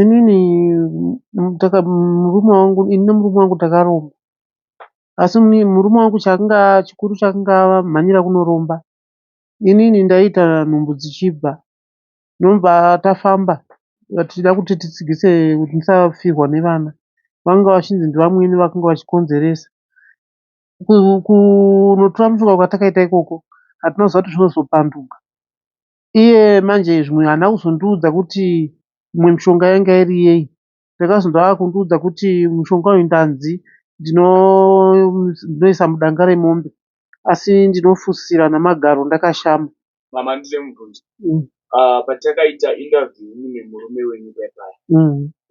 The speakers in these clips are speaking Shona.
Inini murume wangu ini nemurume wangu takaromba asi murume wangu chaanga chikuru chaanga amhanyira kunoromba inini ndaiita nhumbu dzichibva ndobva tafamba tichida kuti titsigise kuti ndisafirwa nevana vanga vachinzi ndivamwene vakanga vachikonzeresa. Kunotora mushonga kwatakaita ikoko hatina kuziva kuti zvinozopanduka. iye manje zvimwe haana kuzondiudza kuti imwe mishonga yanga iri yei ndakazonzwa akundiudza kuti mushonga uyu ndanzi ndinoisa mudanga remombe asi ndinofusira namagaro ndakashama. Mama handina kumubvunza patakaita interview imi nemurume wenyu paya paya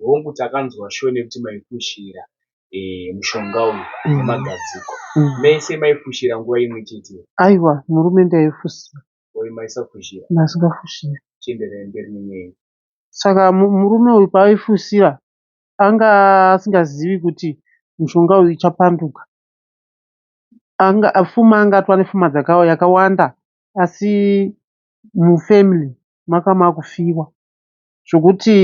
hongu takanzwa sure nekuti maifushira mushonga uyu nemagadziko mese maifushira nguva imwe chete here? Aiwa murume ndaifusira. Oi maisafushira. Ndasikafushira. Chienderai mberi nenyaya iyi. Saka murume uyu paaifusira anga asingazivi kuti mushonga uyu ichapanduka. Anga fuma anga atova nefuma dzakawa yakawanda asi mufamily maka makufiwa zvokuti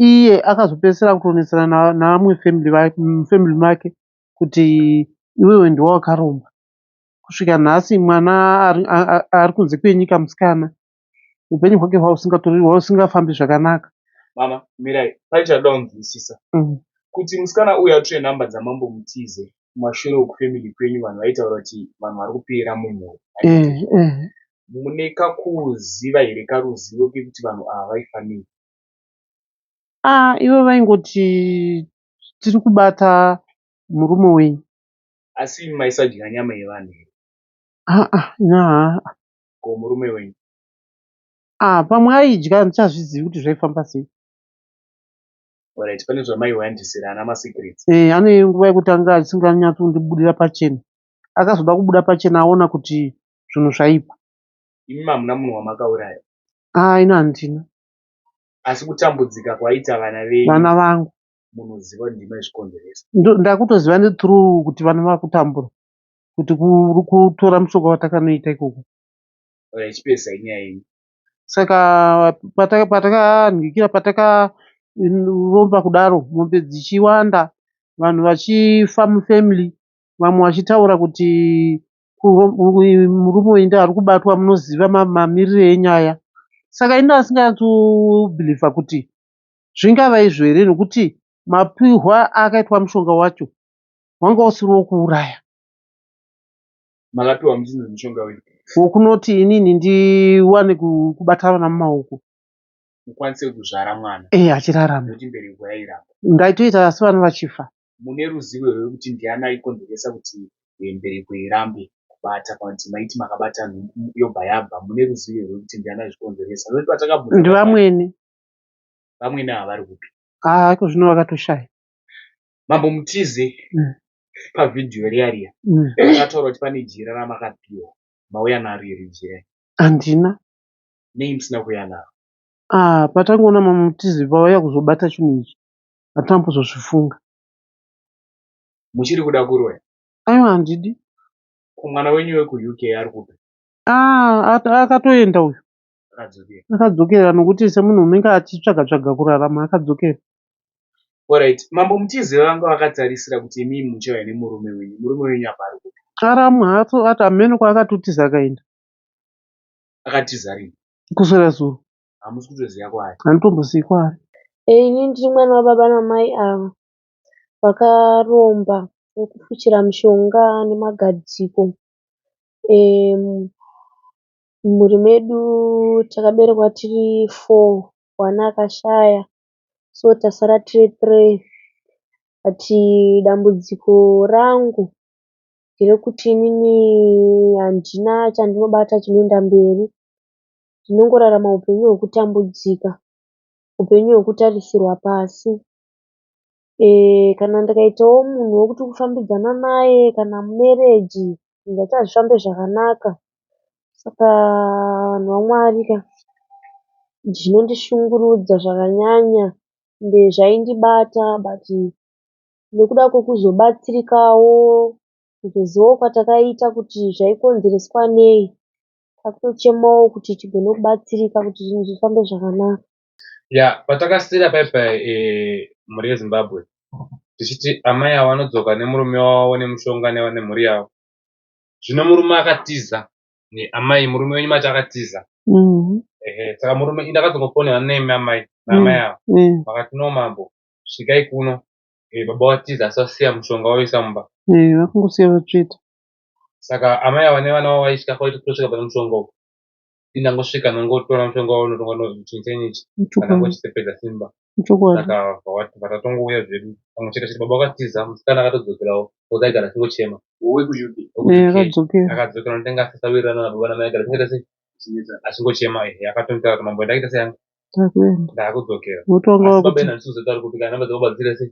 iye akazopedzisira kutonetsana navamwe family vake mufamily make kuti iwewe ndiwe wakaromba. kusvika nhasi mwana ari kunze kwenyika musikana upenyu hwake hwausingafambi zvakanaka mama mirai pai chaida kunzwisisa mm. kuti musikana uyu atore nhamba dzamambo mutize kumashure uku family kwenyu vanhu vaitaura kuti vanhu vari kupera mumhuri eh, eh. mune kakuziva here karuzivo kekuti vanhu ava vaifanira ah, ivo vaingoti tiri kubata murume wenyu Asi imi maisadya nyama yevanhu here? Haa nyaa. Ko murume wenyu? Ah, pamwe aidya handichazvizivi kuti zvaifamba sei. Alright, pane zvamaiwandisira ana masecrets. Eh, ane nguva yekuti anga asinganyatsi kundibudira pachena. Akazoda kubuda pachena aona kuti zvinhu zvaipa. Imi hamuna munhu wamakauraya? Ah, ina handina. Asi kutambudzika kwaita vana venyu? Vana vangu. munoziva kuti ndimai zvikonzeresa ndakutoziva nethrough kuti vana vakutambura kuti kutora mushonga watakanoita ikoko oya chipesa inyaya yenyu saka patakanhikira patakaromba kudaro mombe dzichiwanda vanhu vachifa mufamily vamwe vachitaura kuti murume uyu ndiye ari kubatwa munoziva mamirire enyaya saka ini asingatsubhilivha kuti Zvingava izvo here nekuti mapihwa aakaitwa mushonga wacho wanga usiri wekuuraya. Makapiwa muchinzi mushonga wei? Wokunoti inini ndiwane kubata vana mumaoko. Mukwanise kuzvara mwana. Eh, achirarama. Kuti mbereko yairamba. Ndaitoita asi vana vachifa. Mune ruzivo here kuti ndiani aikonzeresa kuti eh, mbereko irambe kubata panti maiti makabata yobva yabva mune ruzivo here kuti ndiani aizvikonzeresa? Ndivamwene. vamwene ava vari kupi ah iko zvino vakatoshaya mambo mutize mm. pavhidhiyo riya riya mm. akataura kuti pane jira ramakapiwa mauya naro iri jira handina nei musina kuuya naro ah patangoona mambo mutize vauya kuzobata chinhu ichi hatina kuzozvifunga muchiri kuda kuroya aiwa handidi kumwana wenyu wekuuk ari kupi ah akatoenda uyu akadzokera nokuti semunhu unenge achitsvaga tsvaga kurarama akadzokera orit mambo mutize vanga vakatarisira kuti imi muchauya nemurume wenyu murume wenyu apa ari kupi ara muhatso ati amene kwaakatotiza akaenda akatiza rini kuswera zuro hamusi kutoziva kwaari handitombozivi kwaari ini ndiri mwana wababa namai ava vakaromba vekufuchira mushonga nemagadziko um, Mumhuri medu takaberekwa tiri four one akashaya so tasara tiri three but dambudziko rangu nderekuti inini handina chandinobata chinoenda mberi. Ndinongorarama hupenyu hwekutambudzika, hupenyu hwekutarisirwa pasi. Kana ndikaitawo munhu wekuti kufambidzana naye kana mumereji zvinhu zvacho hazvifambe zvakanaka. Saka vanhu vaMwari ka, zvinondishungurudza zvakanyanya ende zvaindibata bhati nekuda kwekuzobatsirikawo, kuzozivawo kwatakaita kuti zvaikonzereswa nei, kwakutochemawo kuti tigone kubatsirika kuti zvinhu zvifambe zvakanaka. ya patakasira paipa e, mhuri yezimbabwe tichiti amai avo vanodzoka nemurume wavo nemushonga nemhuri yavo zvino murume akatiza amai murume wenyu mati akatiza mm-hmm. ehe saka murume indakazongofonera nemi amai naamai mm-hmm. avo mm-hmm. vakati no mambo svikai kuno eh, baba vatiza asi vasiya mushonga wavisa mumba eh, vakungosiya vatsveta saka amai avo nevana vavo vaitya kwaitosvika pane mushonga uku ndangosvika ndangotora mushonga wavo unotonga ndonzi muchinyi chenyi ichi kana ngochitepedza simba saka vatatongouya zvedu pamwe chete chete baba vakatiza musikana akatodzokerawo oza aigara achingochema akadzokera ndotanga asasawirirana nababa namai agara tingaita sei achingochema ehe akatonitaura kuti mambo ndakuita sei yangu ndakudzokera asi baba ena ndisizotauri kuti kana namba dzababa dziri sei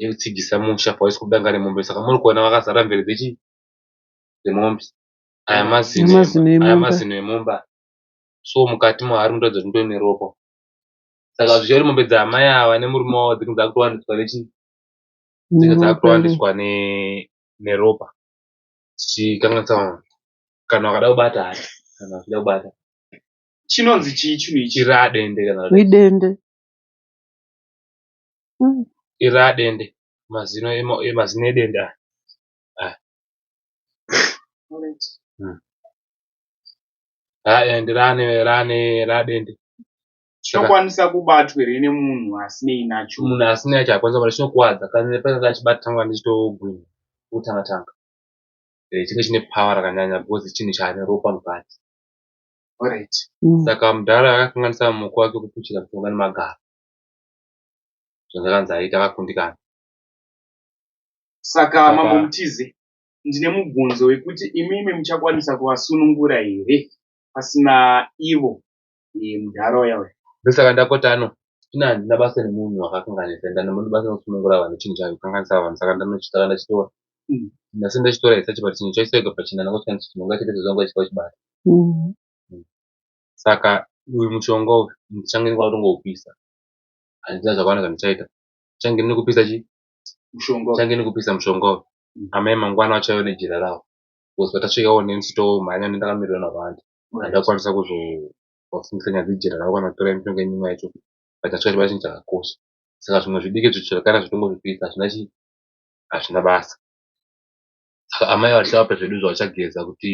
yekutsigisa musha pawaiswa danga remombe saka muri kuona vakazara mvere dzechii dzemombe aya mazino Mazino emombe. aya mazino emombe aya. so mukati mahari munotaridza kuti mutori neropa saka zvichida kuti mombe dzaamai ava nemurume wavo dzinge dzakutowaniswa nechii dzinge dzakutowaniswa ne neropa dzichikanganisa vanhu kana vakada kubata hati kana vachida kubata chinonzi chii chinhu ichi chiradende kana kuti idende Iri raDende, mazino eDende aya. Chinokwanisa kubatwa here nemunhu asinei nacho? Munhu asinei nacho haakwanisi kubata, chinokuvadza. Pakange achibata changa chichitogwinha kutanga tanga. Chinenge chine power rakanyanya because chinhu chane ropa mukati. Saka mudhara akakanganisa muko wake wekupushira mushonga nemagaro. zvandakanzi aita akakundikana saka mambo mutize ndine mubvunzo wekuti imimi muchakwanisa kuvasunungura here pasina ivo mudhara uya uya ndosaka ndakotano ina handina basa nemunhu wakakanganisa enda nemunhu basa nekusunungura vanhu chinhu chayo kukanganisa vanhu saka ndanochitaka ndachitora mm. ndasi ndachitora isachi but chinhu chaisaiga pachina ndangoshandisa chinhu ngachiita sezvanga chichibata mm. mm. Saka uyu mushonga uyu ndichange ndikuda kutongoupisa. Handina zvakawanda zvandichaita. Ndichange ndine kupisa chii? Mushonga. Ndichange ndine kupisa mushonga uyu. Amai mangwana vachauya nejira ravo. Because patasvikawo neni titomhanya neni ndakamirirwa navandi. Handina kukwanisa kuzovafungisa nyaya dzejira ravo kana kutora mishonga yenyu imwe yacho. But tasvika chibairo chinhu chakakosha. Saka zvimwe zvidiki zvicho zvakana zvitongozvipisa hazvina chii? Hazvina basa. Saka amai vachava pezvedu zvavachageza kuti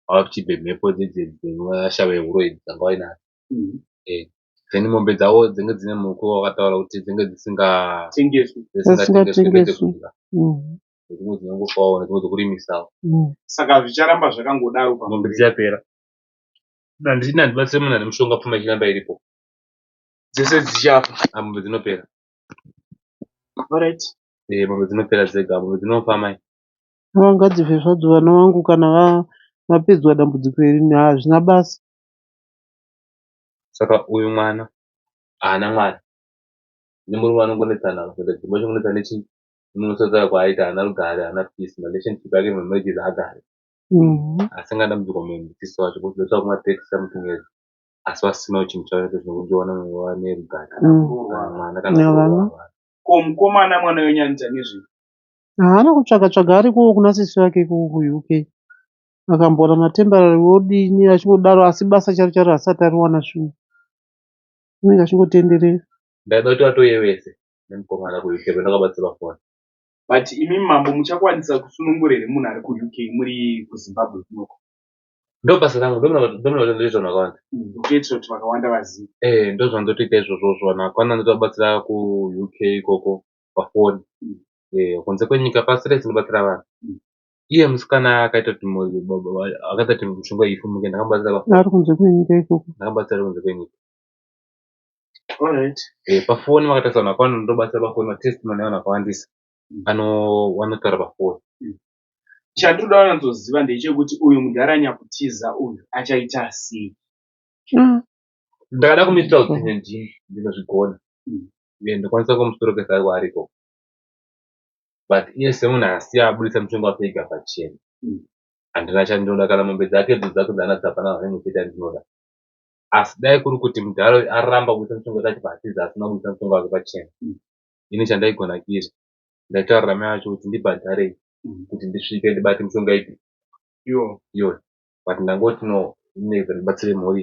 vava kuchibve mhepo dzinoasha vehuroyi dzanga vainadzo then mombe dzavo dzenge dzine muko wakataura kuti dzenge dzisingatengeswi dzimwe dzinongofawo nedzimwe dzokurimisawo saka zvicharamba zvakangodaro pamombe dziyapera handiti handibatsire munhu ane mushonga pfuma ichiramba iripo dzese dzichafa amombe dzinopera orit mombe dzinopera dzega mombe dzinofa mai Ngavangadzife zvadzo vana vangu kana vapedzwa dambudziko iri hazvina basa. Saka uyu mwana haana mwana nemurume vanongonetsana apa kuita dzimba chongonetsa nechii unonotsotsa kwaaita haana rugare haana peace relationship yake ma marriages haagare asi nga dambudziko mumhisiso wacho kuti that's why kuma tax amutumira asi vasina uchinhu chavo nekuti zvinongowana wane rugare kana mwana kana ko mukomana mwana wenyu anoita nezvei Haana kutsvaga tsvaga arikowo kuna sisi vake ikoko kuUK. Akamboona matemporary wodini achingodaro asi basa charo charo haasati ariwana shuwa. Anenge achingotenderera. Ndaida kuti vatouye vese nemukomana kuUK pamene vakabatsirwa foni. But imi mambo muchakwanisa kusunungura here munhu ari kuUK muri kuZimbabwe kunoko? Ndobasa rangu ndomira kuti ndoita zvinhu vakawanda. Ndotoitisa kuti vakawanda vazive. Eh ndozvandotoita izvozvozvo vanhu vakawanda ndotovabatsira kuUK ikoko pafoni eh, kunze kwenyika pasi rese inobatsira vanhu iye musikana akaita kuti akaita kuti mushonga ifumuke ndakamubatsira pafoni ari kunze kwenyika ikoko ndakamubatsira kunze kwenyika eh, pafoni vakatarisa vanhu vakawanda ndobatsira pafoni matestimony evanhu vakawandisa vanotaura pafoni chandinoda wanatsoziva ndechekuti uyu mudhara nyakutiza uyu achaita sei mm. ndakada kumitira kuti ndinozvigona uye ndokwanisa kumusorokesa aiwa ariko but iye semunhu asiya abudisa mutengo wake ega pachena handina chandinoda kana mombe dzake dzo dzake dzaanatsa hapana zvaine chete andinoda asi dai kuri kuti mudhara uyu aramba kubudisa mutengo wake achibva atiza asina kubudisa mutengo wake pachena ini chandaigona kiri ndaitaurira mai vacho kuti ndibhadharei kuti ndisvike ndibate mushonga ipi iyo but ndangoti no ndibatsire mhuri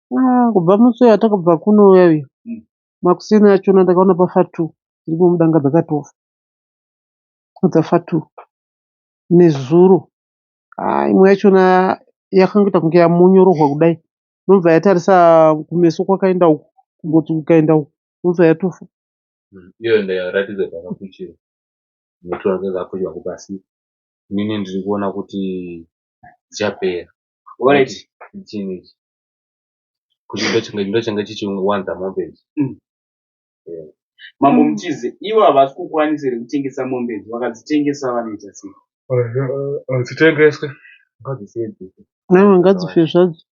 Ah, kubva musi uyo atakabva kunouya uyo Mm. makuseni achona ndakaona pafa two dziri kumudanga dzakatofa dzafa two nezuro ah, imwe yachona yakangoita kunge yamonyororwa kudai nobva yatarisa kumeso kwakaenda uku kungoti kukaenda uku nobva yatofa iyo ndaratidza dzakafuchira nekuti vange dzakafuchira kupasi inini ndiri kuona kuti dzichapera Alright. Chinhu ichi. Kuti ndochanga ndochanga chichiwanza mombe ichi. Mambo Mutize, ivo havasi kukwanisa here kutengesa mombe idzi? Vakadzitengesa vanoita sei? Hadzitengeswe. Ngadzisiye dzife. Nhaiwa ngadzife zvadzo.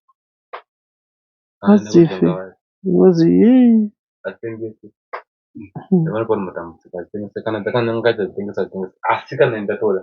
Ngadzife. Ngozi yei. Hadzitengeswe. Ndavana pano matambudziko hadzitengeswe. Kana dzakananga ngadzitengesa dzitengesa. Asi kana ini ndatoda.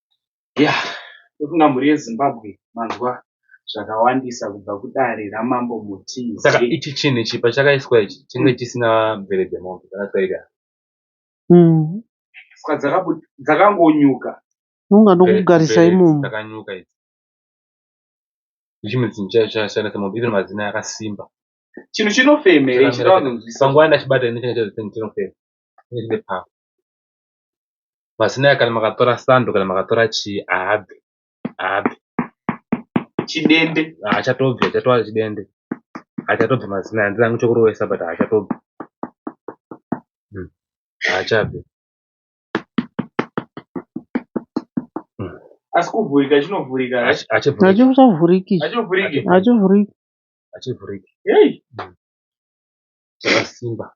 Ya, ndofunga mhuri yeZimbabwe manzwa zvakawandisa kubva kudare raMambo Mutize. Saka ichi chinhu ichi pachakaiswa ichi chinge chisina mvere dzemombe dzakatyaira. Saka dzakabu- dzakangonyuka. Unga ndokugarisa Mvere imomo. dzakanyuka idzi. Ndichimwe chinhu chaicho chakasiyana semombe even mazino akasimba. Chinhu chinofemere Chakamira chinoda kunzwisisa. Panguva ndachibata ini changa chazotini chinofema. Chinenge chine pamwe. Masinai kana makatora sando kana makatora chii haabve haabve chidende haachatobvi achatova chidende haachatobvi masinai handina hangu chokurovesa but haachatobvi hmm. haachabve hmm. asi kuvhurika chinovhurika hachivhuriki hachivhuriki hachivhuriki hachivhuriki hei hmm. chakasimba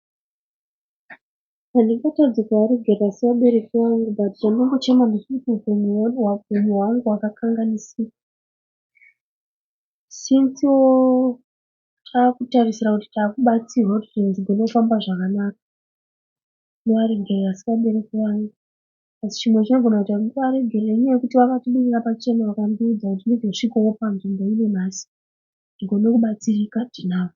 Handingatadzi kuaregedza sevabereki vangu but chandinongochema ndechekuti upenyu hwedu upenyu hwangu hwakakanganisika since takutarisira kuti takubatsirwa kuti zvinhu zvigone kufamba zvakanaka. Ndoaregerera asi vabereki vangu asi chimwe chinogona kuita kuti ndiaregerere inyaya yekuti vakatibudira pachena vakandiudza kuti ndizosvikawo panzvimbo ino nhasi tigone kubatsirika tinavo.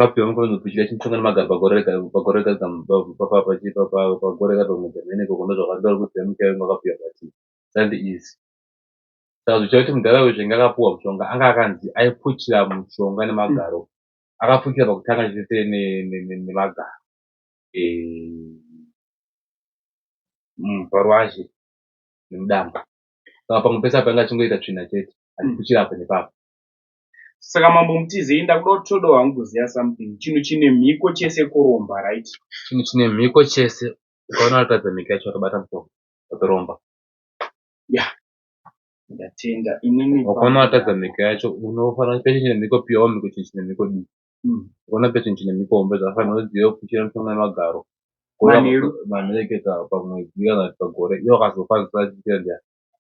Rapio vanga vanokuchira chimutanga nemagaro pagore rega pagore rega kam- pa- pa- pa- pachi- pa- pa- pagore rega pamwe dzamene ikoko ndozvavari tauri kuti zanu chaivo vakapiwa vati sandi izi saka zvichava kuti mudhara uyu zvenge akapuwa mushonga anga akanzi aipuchira mushonga nemagaro akapuchira pakutanga chete ne- ne- ne- nemagaro Eh, mm, parwazi nemudamba saka pamwe pese apa anga achingoita tsvina chete achipuchira apa nepapa Saka mambo mutizei ndakuda kuti toda wangu kuziva something. Chinhu chine mhiko chese kuromba right? Chinhu chine mhiko chese ukaona watadza mhiko yacho watobata mutoro watoromba. Yeah. Ndatenda. Inini ukaona watadza mhiko yacho unofanira kuti chine mhiko pia wamhiko chinhu chine mhiko dii. Mm. Ukaona pia chinhu chine mhiko hombe zvakafanira uzive kuchira mutoro nemagaro. Manheru. Manheru kana pamwedzi kana pagore. Iwo akazofa zvisachira ndiani.